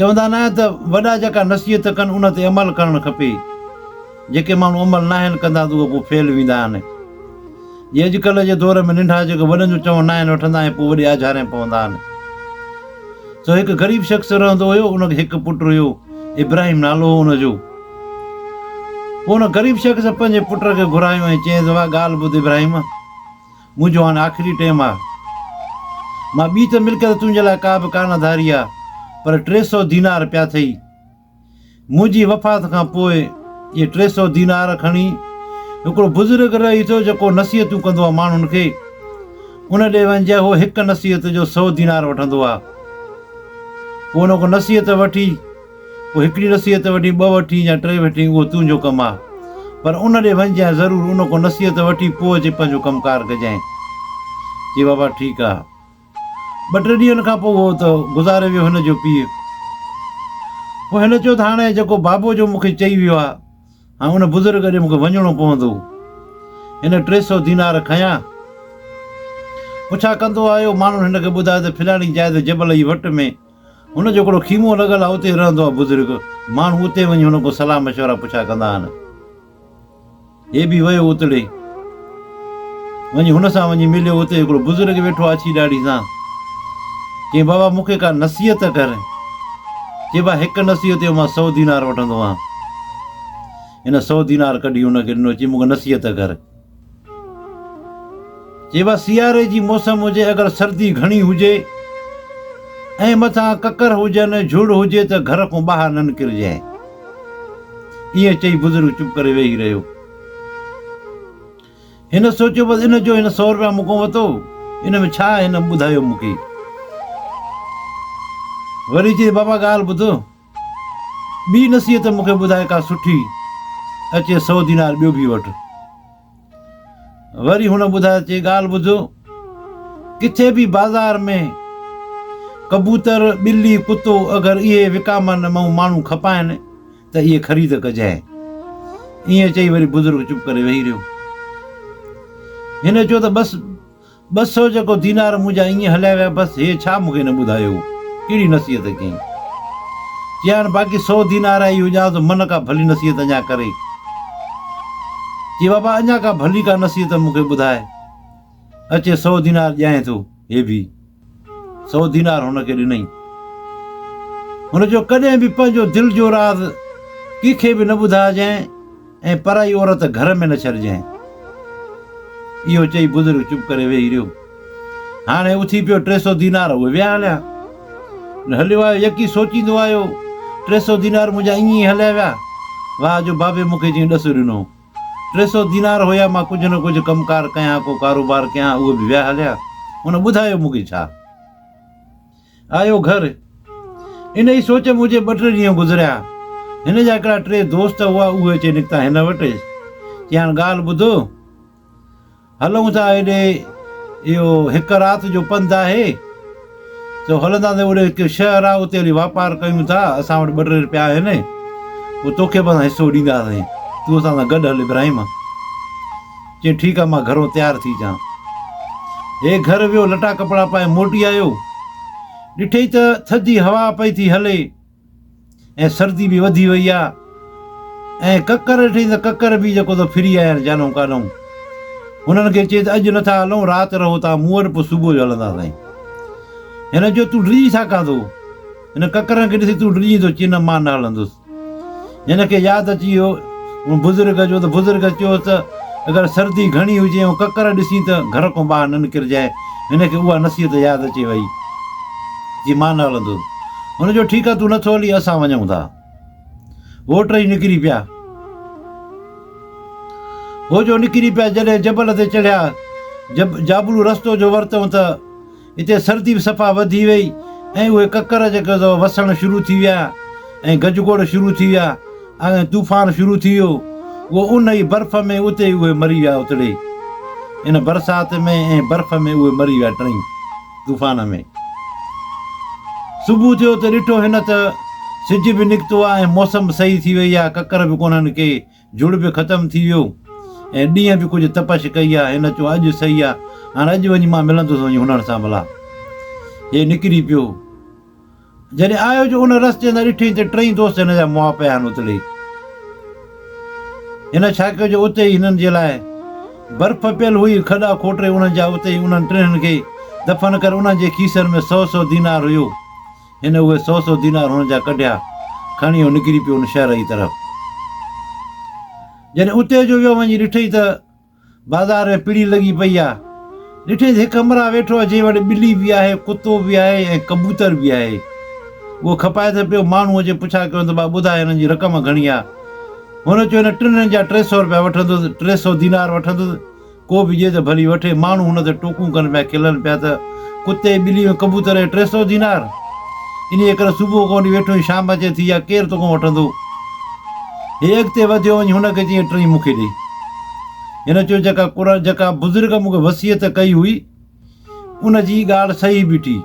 چوندا ناهن ته وڏا جيڪا نصيحت ڪن ان تي عمل ڪرڻ کپي، جيڪي ماڻهو عمل ناهن ڪندا ته اهي پوء فيل ويندا آهن. جي اڄڪلهه جي دور ۾ ننڍا جيڪي وڏن جو چون ناهن وٺندا ۽ پوء وڏي آجهارين پوندا آهن. سو هڪ غريب شخص رهندو هيو ان کي هڪ پٽ هيو ابراهيم نالو هو ان جو. پوء ان غريب شخص پنهنجي پٽ کي گهرايو ۽ چيس واهه ڳالهه ٻڌ ابراهيم! منهنجو هاڻ آخري ٽيم آ. مان ٻي ته ملڪت تنهنجي لاء ڪا به ڪانه ڌاري آ، پر ٽي سؤ دينار پيا ٿئي. منهنجي وفات کان پوء اهي ٽي سؤ دينار کڻي هڪڙو بزرگ رهي ٿو جيڪو نصيحتون ڪندو آ ماڻهن کي، ان ڏي وڃ جي هو هڪ نصيحت جو سؤ دينار وٺندو آ. پوء ان کان نصيحت وٺي، پوء هڪڙي نصيحت وٺين، ٻه وٺين يا ٽي وٺين، اهو تنهنجو ڪم آ. پر ان ڏي وڃجانء ضرور، ان کان نصيحت وٺي پوء اچي پنهنجو ڪم ڪار ڪجانء. چي بابا ٺيڪ آ. ٻه ٽي ڏينهن کان پوء اهو ته گذاري ويو هن جو پيء. پوء هن چيو ته هاڻي جيڪو بابو جو مون کي چئي ويو آ، هاڻي ان بزرگ ڏي مون کي وڃڻو پوندو. هن ٽي سئو دينار کنيا. پڇا ڪندو آيو، ماڻهن هن کي ٻڌايو ته فلاڻي جاء تي جبل جي وٽ ۾، هن جو هڪڙو خيمو لڳل آهي، اتي رهندو آهي بزرگ. ماڻهو اتي وڃي هن کان صلاح مشورا پڇا ڪندا آهن. هي به ويو اتڙي. وڃي هن سان وڃي مليو، اتي هڪڙو بزرگ ويٺو آهي اڇي ڏاڙهي سان. چيائين بابا مون کي ڪا نصيحت ته ڪر. چي با هڪ نصيحت جو مان سؤ دينار وٺندو آهيان. هن سؤ دينار ڪڍي هن کي ڏنو، چيائين مون کي نصيحت ته ڪر. جيوا سياري جي موسم هجي اگر سردي گهڻي هجي ۽ مٿان ڪڪر هجن جهڙ هجي ته گهر کون ٻاهر نه نڪرجين. ائين چئي بزرگ چپ ڪري ويهي رهيو. هن سوچيو بس ان جو هن سؤ روپيا مون کون وتو ان ۾ ڇا هن ٻڌايو مون کي. وري چئي بابا ڳالهه ٻڌ. ٻي نصيحت مون کي ٻڌائي ڪا سٺي، اچي سؤ دينار ٻيو ڀي وٺ. وري هن ٻڌايو چي ڳالهه ٻڌ، ڪٿي به بازار ۾ ڪبوتر، ٻلي، ڪتو اگر اهي وڪامن مئو ماڻهو کپائن ته اهي خريد ڪجانء. ائين چئي وري بزرگ چپ ڪري ويهي رهيو. هن چيو ته بس! ٻه سئو جيڪو دينار منهنجا ائين هليا ويا بس هيء ڇا مون کي نه ٻڌايو هو ڪهڙي نصيحت ڪيائين چيائين باقي سئو دينار آهي اهو ڄاڻ ته من ڪا ڀلي نصيحت اڃا ڪري چي بابا اڃا ڪا ڀلي ڪا نصيحت مون کي ٻڌاء اچي سئو دينار ڏيانء ٿو هي ڀي سو دينار هن کي ڏنئين. هن چيو، ڪڏهن به پنهنجو دل جو راز ڪنهن کي به نه ٻڌائجانء ۽ پرائي عورت گهر ۾ نه ڇڏجانء. اهو چئي بزرگ چپ ڪري ويهي رهيو. هاڻي اٿي پيو ٽي سو دينار اهي ويا هليا. هليو آيو يڪي سوچيندو آيو، ٽي سو دينار منهنجا ائين ئي هليا ويا. واهه جو بابي مون کي جنهن ڏس ڏنو. ٽي سؤ دينار هيا، مان ڪجهه نه ڪجهه ڪم ڪار ڪيان ها، ڪو ڪاروبار ڪيان ها، اهي به ويا هليا. هن ٻڌايو مون کي ڇا؟ آيو گهر، انهيء سوچ ۾ هجي ٻه ٽي ڏينهن گذريا، هن جا هڪڙا ٽي دوست هئا، اهي اچي نڪتا هن وٽ، چيائين ڳالهه ٻڌ، هلون ٿا هيڏي اهو هڪ رات جو پنڌ آهي. سو هلندا ته هوڏي هڪ شهر آهي اتي هلي واپار ڪيون ٿا. اسان وٽ ٻه ٽي رپيا آهن. پوء توکي به اسان حصو ڏينداسين. تون اسان سان گڏ هل ابراهيم. چيائين ٺيڪ آهي مان گهرو تيار ٿي اچان. هي گهر ويو لٽا ڪپڙا پائي موٽي آيو. ڏٺئي ته ٿڌي هوا پئي ٿي هلي. ۽ سردي به وڌي وئي آ ۽ ڪڪر ڏٺئي ته ڪڪر به جيڪو ته ڦري آيا آهن جانئون ڪانئون. هنن کي چئي ته اڄ نه ٿا هلئون رات رهو تان مون وٽ پوء صبح جو هلنداسين. هن چيو تون ڊڄي ڇا ڪندو؟ هن ڪڪرن کي ڏسي تون ڊڄيندو چئي نه مان نه هلندس. هن کي ياد اچي ويو ان بزرگ جو ته بزرگ چيو ته اگر سردي گهڻي هجي ۽ ڪڪر ڏسين ته گهر کان ٻاهر نه نڪرجانء. هن کي اها نصيحت ياد اچي ويئي. جي مان نه هلندس. هن چيو ٺيڪ آهي تون نٿو هلين اسان وڃون ٿا. هو ٽئي نڪري پيا. هو جو نڪري پيا جڏهن جبل تي چڙهيا جب جابلو رستو جو ورتئون ته هتي سردي به صفا وڌي وئي ۽ اهي ڪڪر جيڪي سو وسڻ شروع ٿي ويا ۽ گجگوڙ شروع ٿي ويا ۽ طوفان شروع ٿي ويو اهو ان ئي برف ۾ اتي ئي اهي مري ويا اتڙي ان برسات ۾ ۽ برف ۾ اهي مري ويا ٽئي طوفان ۾ صبح ٿيو ته ڏٺو هن ته سج به نڪتو آهي ۽ موسم به صحيح ٿي وئي آهي ڪڪر به ڪونهن ڪي جھڙ به ختم ٿي ويو ۽ ڏينهن به ڪجهه تپش ڪئي آ. هن چيو اڄ سهي آ. هاڻ اڄ وڃي مان ملندس وڃي هنن سان ڀلا. هي نڪري پيو. جڏهن آيو جو ان رستي تان ڏٺئي ته ٽئي دوست هن جا مئا پيا آهن اتڙي. هن ڇا ڪيو جو اتي ئي هنن جي لاء برف پيل هئي کڏا کوٽري انهن جا اتي ئي انهن ٽنهن کي دفن ڪري انهن جي کيسن ۾ سؤ سؤ دينار هيو. هن اهي سؤ سؤ دينار هن جا ڪڍيا، کڻي هو نڪري پيو ان شهر جي طرف. جڏهن اتي جو ويو وڃي ڏٺئي ته بازار ۾ پڙي لڳي پئي آهي. ڏٺئي ته هڪ همراهه ويٺو آهي جنهن وٽ ٻلي به آهي، ڪتو به آهي ۽ ڪبوتر به آهي. اهو کپائي ته پيو ماڻهو اچي پڇا ڪيو ته ڀاء ٻڌاء هنن جي رقم گهڻي آهي؟ هن چيو هن ٽنهن جا ٽي سؤ روپيا وٺندس، ٽي سؤ دينار وٺندس. ڪو به ڏي ته ڀلي وٺي، ماڻهو هن تي ٽوڪون ڪن پيا، کلن پيا ته، ڪتي، ٻلي ۽ ڪبوتر اهي ٽي سؤ دينار! انهيء ڪري صبح کان وٺي ويٺو آهين، شام اچي ٿي آهي، ڪير توکان وٺندو؟ هي اڳتي وڌيو وڃي، هن کي چيائين، ٽئين مون کي ڏي. هن چيو، جيڪا قرآن، جيڪا بزرگ مون کي وصيت ڪئي هئي، ان جي ڳالهه صحيح بيٺي.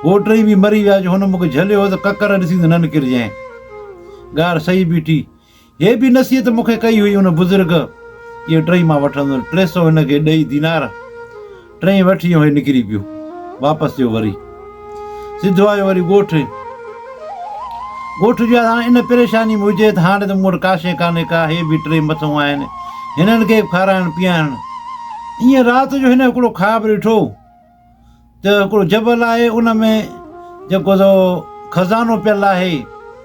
هو ٽئين به مري ويا جو هن مون کي جهليو هو ته ڪڪر ڏسين ته ننڪر جئين. ڳالهه صحيح بيٺي. هيء به نصيحت مون کي ڪئي هئي ان بزرگ، اهي ٽئي مان وٺندس، ٽي سؤ هن کي ڏئي دينار، ٽئي وٺي ۽ هيء نڪري پيو، واپس ٿيو وري سڌو آيو وري ڳوٺ، ڳوٺ جو هاڻ ان پريشاني ۾ هجي ته هاڻي ته مون وٽ ڪاشي ڪانهي ڪا، هي به ٽئي مٿئون آهن، هنن کي به کارائڻ پيئائڻ، ائين رات جو هن هڪڙو خواب ڏٺو. ته هڪڙو جبل آهي ان ۾ جيڪو سو خزانو پيل آهي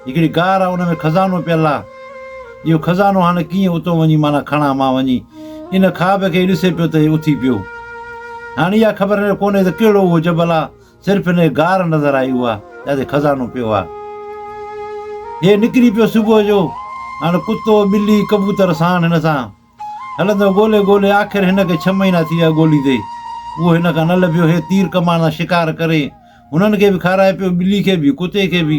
هڪڙي غار آهي ان ۾ خزانو پيل آهي اهو خزانو هاڻي ڪيئن اتو وڃي معنيٰ کڻا مان وڃي ان خواب کي ڏسي پيو ته هي اٿي پيو هاڻي اها خبر نه ڪونهي ته ڪهڙو اهو جبل آهي صرف ان غار نظر آئي هو آهي جتي خزانو پيو آهي هي نڪري پيو صبح جو هاڻي ڪتو ٻلي ڪبوتر ساڻ هن سان هلندو ڳولي ڳولي آخر هن کي ڇهه مهينا ٿي ويا ڳوليندي. اهو هن کان نه لڀيو. هي تير ڪمان سان شڪار ڪري هنن کي به کارائي پيو، ٻلي کي به، ڪتي کي به.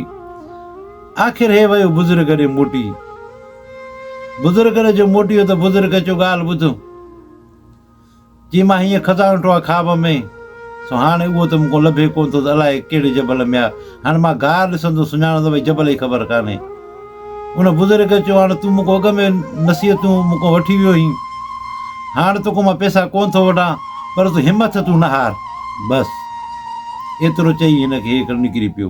آخر هي ويو بزرگ ڏي موٽي. بزرگ ڏي جو موٽيو ته بزرگ کي چيو ڳالهه ٻڌ. جي مان هينئن کداڻوٽو آ خواب ۾، سو هاڻ اهو ته مون کان لڀي ڪونه ٿو ته الاء ڪهڙي جبل ۾ آ. هاڻ مان گار ڏسندو سڃاڻان ته ڀئي جبل ئي خبر ڪانهي. ان بزرگ چيو، هاڻ تون مون کان اڳ ۾ نصيحتون مون کان وٺي ويو هين. هاڻ تو کان مان پئسا ڪونه ٿو وٺان، پر تون همٿ تون نه هار. بس! ايترو چئي هن کي هيڪر نڪري پيو.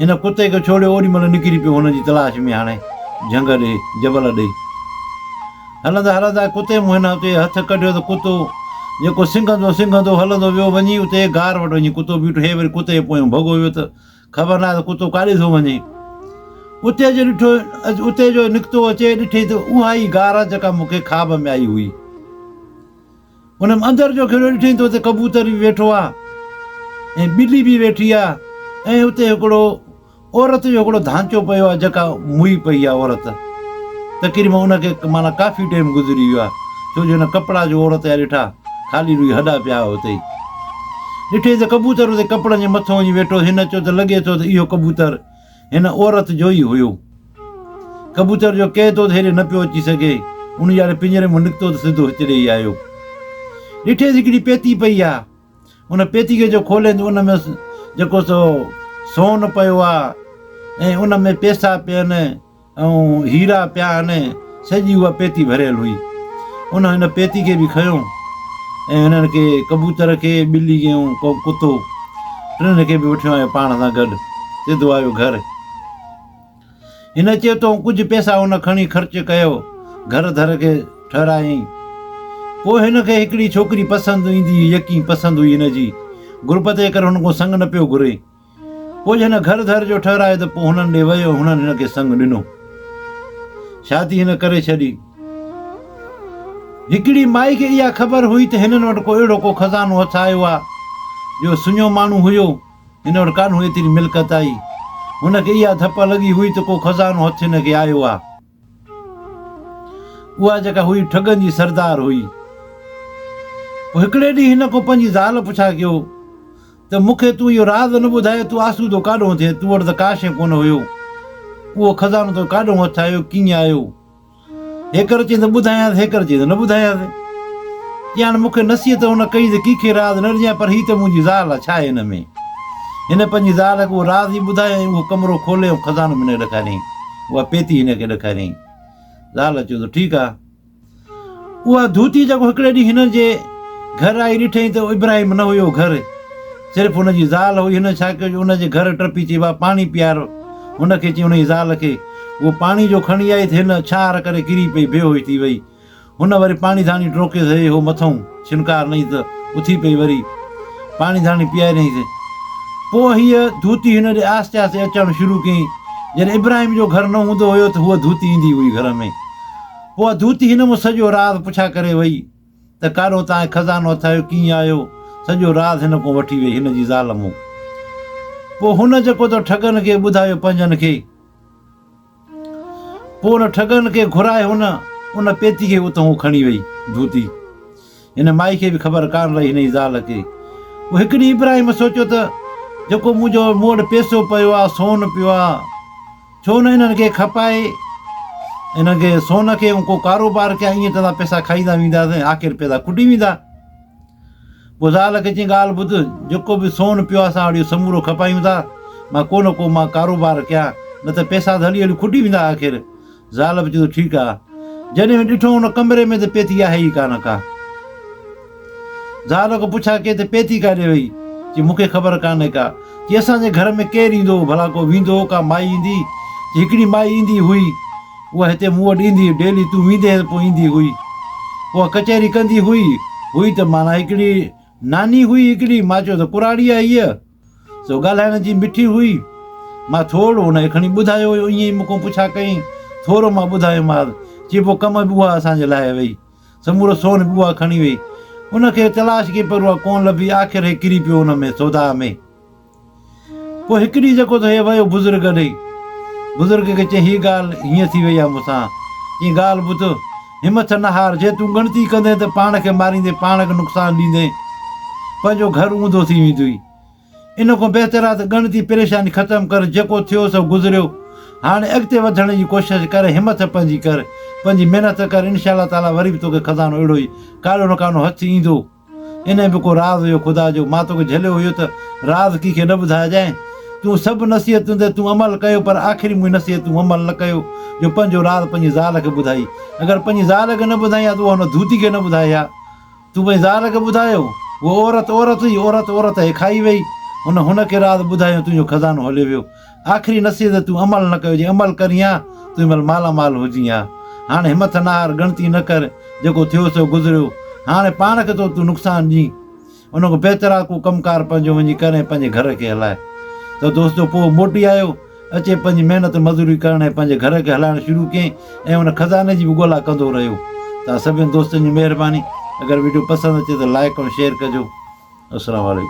هن ڪتي کي ڇوڙيو اوڏي مهل نڪري پيو هن جي تلاش ۾ هاڻي جهنگ ڏي جبل ڏي هلندا هلندا ڪتي مون هن اتي هٿ ڪڍيو ته ڪتو جيڪو سنگهندو سنگهندو هلندو ويو وڃي اتي غار وٽ وڃي ڪتو بيٺو هي وري ڪتي پويون ڀڳو ويو ته خبر ناهي ته ڪتو ڪاڏي ٿو وڃي اتي جو ڏٺو اتي جو نڪتو اچي ڏٺي ته اها ئي غار جيڪا مونکي خواب ۾ آئي هئي هن اندر جو کهڙو ڏٺائين ته اتي ڪبوتر به ويٺو آهي ۽ ٻلي به ويٺي آهي ۽ اتي هڪڙو عورت جو هڪڙو ڌانچو پيو آهي جيڪا موئي پئي آهي عورت تقريبا ان کي معنيٰ ڪافي ٽيم گذري ويو آهي ڇو جو هن ڪپڙا جو عورت جا ڏٺا خالي روئي هڏا پيا آهي اتي ڏٺائين ته ڪبوتر اتي ڪپڙن جي مٿو وڃي ويٺو هن چيو ته لڳي ٿو ته اهو ڪبوتر هن عورت جو ئي هيو ڪبوتر جو ڪيء طوط هيڏي نه پيو اچي سگهي، ان جياري پڃري مان نڪتو ته سڌو هت ڏيئي آيو. ڏٺيس هڪڙي پيتي پئي آ. ان پيتي کي جو کولين ته ان ۾ جيڪو سو سون پيو آ ۽ ان ۾ پيسا پين ۽ هيرا پيا آهن. سڄي اها پيتي ڀريل هئي. ان هن پيتي کي به کنيو ۽ هنن کي ڪبوتر کي، ٻلي کي ۽ ڪتو ٽنهن کي به وٺيو آيو پاڻ سان گڏ. سڌو آيو گهر. هن چيو ته هو ڪجهه پئسا ان کڻي خرچ ڪيو گهر ڌر کي ٺهرايائين. پوء هن کي هڪڙي ڇوڪري پسند ايندي هئي يقين پسند هئي هن جي غربت جي ڪري هن کان سڱ نه پيو گهري. پوء هن گهر ڌر جو ٺهرايو ته پوء هنن ڏي ويو هنن هن کي سڱ ڏنو. شادي هن ڪري ڇڏي. هڪڙي مائي کي اها خبر هئي ته هنن وٽ ڪو اهڙو ڪو خزانو هٿ آيو آهي جو سڃو ماڻهو هيو. هن وٽ ڪانه هئي ايتري ملڪت آئي. هن کي اها ڌپ لڳي هئي ته ڪو خزانو هٿ هن کي آيو آ. اها جيڪا هئي ٺڳن جي سردار هئي. پوء هڪڙي ڏينهن هن ڪو پنهنجي زال پڇا ڪيو ته مون کي تون اهو راز نه ٻڌايو تون آسودو ڪاڏهون ٿئين؟ تون وٽ ته ڪا شيء ڪونه هيو. اهو خزانو تو کي ڪاڏهون هٿ آيو، ڪيئن آيو؟ هيڪر چين ته ٻڌايانس هيڪر چين ته نه ٻڌايانس ڄاڻ مون کي نصيحت هن ڪئي ته ڪيکي راز نه ڏجانء پر هي ته منهنجي زال آ ڇاهي هن ۾ هن پنهنجي زال کي اهو راز ئي ٻڌايائين اهو ڪمرو کولي ۽ خزانو به هن کي ڏيکاريائين اها پيتي هن کي ڏيکاريائين زال چيو ته ٺيڪ آ اها ڌوتي جيڪو هڪڙي ڏينهن هن جي گهر آئي ڏٺئي ته ابراهيم نه هيو گهر صرف هن جي زال هئي. هن ڇا ڪيو جو ان جي گهر ٽپي چيو ها پاڻي پيار. هن کي چيائين ان جي زال کي اهو پاڻي جو کڻي آئي ته هن ڇهار ڪري ڪري پئي بي هوش ٿي وئي. هن وري پاڻي ڌاڻي ٽروڪيس هي هو مٿئون ڇنڪار نئي ته اٿي پئي وري پاڻي ڌاڻي پياريائينس. پوء هيء ڌوتي هن ڏي آهستي آهستي اچڻ شروع ڪيائين. جڏهن ابراهيم جو گهر نه هوندو هيو ته هوء ڌوتي ايندي هئي گهر ۾. پوء ڌوتي هن مون سڄو راز پڇا ڪري وئي. ته ڪارو تان هي خزانو اٿايو ڪيئن آيو؟ سڄو راز هن ڪون وٺي ويئي هن جي زال مون. پوء هن جيڪو تو ٺڳن کي ٻڌايو پنهنجن کي. پوء ان ٺڳن کي گهرائي هن ان پيتي کي اتون هو کڻي ويئي. جوتي. هن مائي کي به خبر ڪانه رهي هن جي زال کي. پوء هڪ ڏينهن ابراهيم سوچيو ته جيڪو منهنجو مون وٽ پيسو پيو آ سون پيو آ. ڇو نه انهن کي کپائي انهن کي سون کي ڪو ڪاروبار ڪيا ائين ڪندا پيسا کائيندا ويندا سين آخر پيسا کٽي ويندا پوء زال کي چين ڳالهه ٻڌ جيڪو به سون پيو اسان وٽ سمورو کپايون ٿا مان ڪو نه ڪو مان ڪاروبار ڪيا نه ته پيسا ته هلي هلي کٽي ويندا آخر زال به چيو ٺيڪ آ جڏهن ڏٺو ان ڪمري ۾ ته پيتي آهي ئي ڪانه ڪا زال کان پڇا ڪئي ته پيتي ڪاڏي وئي؟ چي مون کي خبر ڪانهي ڪا. چي اسان جي گهر ۾ ڪير ايندو هو ڀلا ڪو ويندو هو ڪا مائي ايندي؟ چي هڪڙي مائي ايندي هئي. اها هتي مون وٽ ايندي هئي ڊيلي تون ويندي هئين پوء ايندي هئي. اها ڪچهري ڪندي هئي. هئي ته معنيٰ هڪڙي ناني هئي هڪڙي مان چيو ته ڪراڙي آهي هيء. سو ڳالهائڻ جي مٺي هئي. مان ٿورڙو ان کي کڻي ٻڌايو هيو، ائين ئي مون کان پڇا ڪيائين. ٿورو مان ٻڌايومانس، چي پوء ڪم به اها اسان جي لاهي وئي. سمورو سون به اها کڻي وئي. ان کي تلاش ڪئي پر اها ڪونه لڀي، آخر هي ڪري پيو ان ۾ سوڌاء ۾. پوء هڪ ڏينهن جيڪو ٿو هي ويو بزرگ ڏي. بزرگ کي چيائين، هيء ڳالهه هيئن ٿي وئي آهي مون سان، ڪي ڳالهه ٻڌ. همٿ نه هار، جي تون ڳڻتي ڪندين ته پاڻ کي ماريندين، پاڻ کي نقصان ڏيندين، پنهنجو گهر اونڌو ٿي ويندوئي. ان کان بهتر آهي ته ڳڻتي پريشاني ختم ڪر، جيڪو ٿيو سو گذريو، هاڻي اڳتي وڌڻ جي ڪوشش ڪر، همٿ پنهنجي ڪر، پنهنجي محنت ڪر، انشاء الله تعاليٰ وري به توکي خزانو اهڙو ئي ڪاڏو نه ڪانو هٿ ايندو. انهيء به ڪو راز هيو خدا جو، مان توکي جهليو هيو ته راز ڪي کي نه ٻڌائجانء. تون سڀ نصيحتون تي تون عمل ڪيو پر آخري منهنجي نصيحت تون عمل نه ڪيو جو پنهنجو راز پنهنجي زال کي ٻڌائي. اگر پنهنجي زال کي نه ٻڌائين ها ته اها هن ڌوتي کي نه ٻڌائي ها. تون پنهنجي زال کي ٻڌايو. هوء عورت عورت هئي، عورت عورت هيء کائي ويئي. هن هن کي راز ٻڌايو ۽ تنهنجو خزانو هليو ويو. آخري نصيحت ته تون عمل نه ڪيو جي عمل ڪرين ها تون مھل مالا مال ھجين ها ھاڻ ھمٿ نه ھار ڳڻتي نه ڪر جيڪو ٿيو سو گذريو ھاڻ پاڻ کي ٿو تون نقصان ڏين ان کان بهتر آ ڪو ڪم ڪار پنھنجو وڃي ڪر ۽ پنھنجي گھر کي ھلاء ته دوستو پوء موٽي آيو اچي پنھنجي محنت مزوري ڪرڻ ۽ پنھنجي گھر کي ھلائڻ شروع ڪيائين ۽ ان خزاني جي به ڳولا ڪندو رھيو توھان سڀني دوستن جي مھرباني اگر وڊيو پسند اچي ته لائڪ ۽ شيئر ڪجو السلام عليڪم